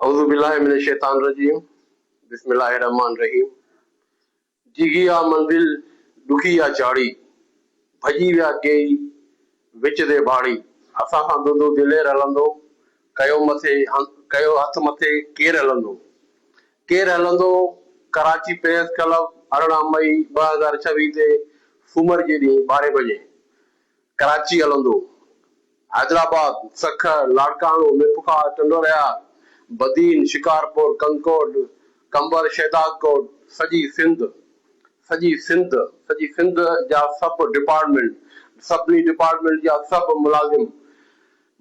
اعوذ بالله من الشيطان الرجيم بسم الله الرحمٰن الرحيم ڊگهي آ منزل ڏکي آ چاڙهي ڀڄي ويا ڪيئي وچ تي ڀاڙي اسان سان دودو دلير هلندو ڪيو مٿي ڪيو هٿ مٿي ڪير هلندو ڪير هلندو ڪراچي پريس ڪلب ارڙهن مئي ٻه هزار ڇويهه تي سومر جي ڏينهن ٻارهين بجي ڪراچي هلندو حيدرآباد، سکر، لاڙڪاڻو، ميرپورخاص، ٽنڊوالهيار، بدين، شڪارپور، ڪنڪوٽ، قمبر، شهدادڪوٽ، سڄي سنڌ، سڄي سنڌ، سڄي سنڌ جا سڀ ڊپارٽمينٽ، سڀني ڊپارٽمينٽ جا سڀ ملازم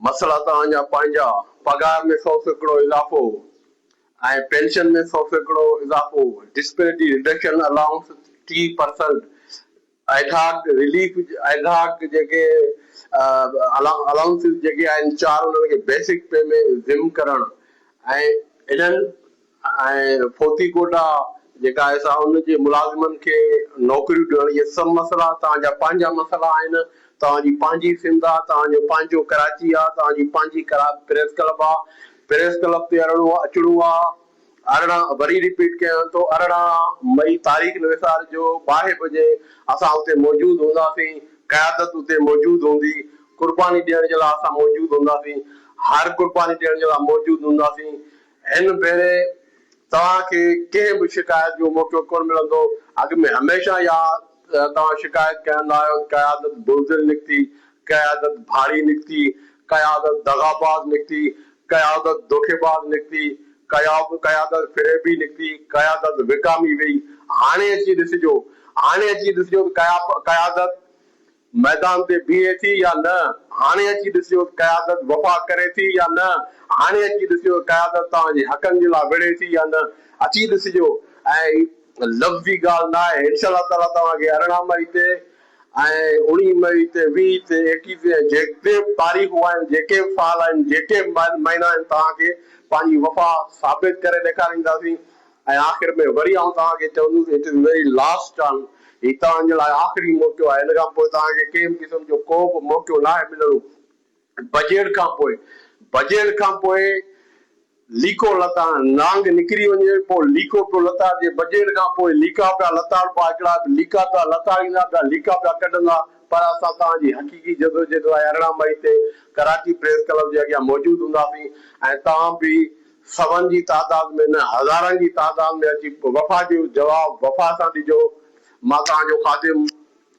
مسئلا توهان جا پنهنجا، پگهار ۾ سؤ سيڪڙو اضافو ۽ پينشن ۾ سؤ سيڪڙو اضافو، ڊسپيرٽي رڊڪشن الائونس ٽي پرسنٽ ايڌاڪ رليف ايڌاڪ جيڪي الاونسز جيڪي آهن چار انهن کي بيسڪ پي ۾ ضم ڪرڻ ۽ انهن ۽ فوتي ڪوٽا جيڪا آهي سا ان جي ملازمن کي نوڪريون ڏيڻ اهي سڀ مسئلا توهان جا پنهنجا مسئلا آهن توهان جي پنهنجي سنڌ آهي توهان جو پنهنجو ڪراچي آهي توهان جي پنهنجي پريس ڪلب آهي پريس ڪلب تي اڙڻو اچڻو آهي. ارڙهن، وري رپيٽ ڪيان ٿو ارڙهن مئي تاريخ نه وسارجو، ٻارهين بجي اسان اتي موجود هونداسين، قيادت اتي موجود هوندي، قرباني ڏيڻ جي لاء اسان موجود هونداسين، هر قرباني ڏيڻ جي لاء موجود هونداسين، هن ڀيري توهان کي ڪنهن به شڪايت جو موقعو ڪونه ملندو، اڳ ۾ هميشه يا توهان شڪايت ڪندا آهيو ته قيادت بزدل نڪتي، قيادت ڀاڙي نڪتي، قيادت دغاباز نڪتي، قيادت دوکيباز نڪتي، قيادت فريبي نڪتي، قيادت وڪامي ويئي، هاڻي اچي ڏسجو، هاڻي اچي ڏسجو ته قيادت ميدان تي بيهي ٿي يا نه، هاڻي اچي ڏسجو ته قيادت وفا ڪري ٿي يا نه، هاڻي اچي ڏسجو ته قيادت توهان جي حقن جي لاء وڙهي ٿي يا نه، اچي ڏسجو ۽ هي لفظي ڳالهه ناهي، انشاء الله تعاليٰ توهان کي ارڙهن مئي تي ۽ اوڻي مئي تي ويهه تي ايڪيهه تي ۽ جيڪي به تاريخون آهن، جيڪي به سال آهن، جيڪي به مهينا آهن توهان کي پنهنجي وفا ثابت ڪري ڏيکارينداسين ۽ آخر ۾ وري آئون توهان کي چوندس it is very last turn هي توهان جي لاء آخري موقعو آهي هن کان پوء توهان کي ڪنهن به قسم جو ڪو به موقعو ناهي ملڻو. بجيڙ کان پوء، بجيڙ کان پوء ليڪو لتاڙ، نانگ نڪري وڃي پوء ليڪو پيو لتاڙجي، بجيڙ کان پوء ليڪا پيا لتاڙبا، هڪڙا ليڪا پيا لتاڙيندا، ٻيا ليڪا پيا ڪڍندا، پر اسان توهان جي حقيقي جدوجهد لاء ارڙهن مئي تي ڪراچي پريس ڪلب جي اڳيان موجود هونداسين ۽ توهان به سون جي تعداد ۾ نه هزارن جي تعداد ۾ اچي وفا جو جواب وفا سان ڏجو، مان توهان جو خادم.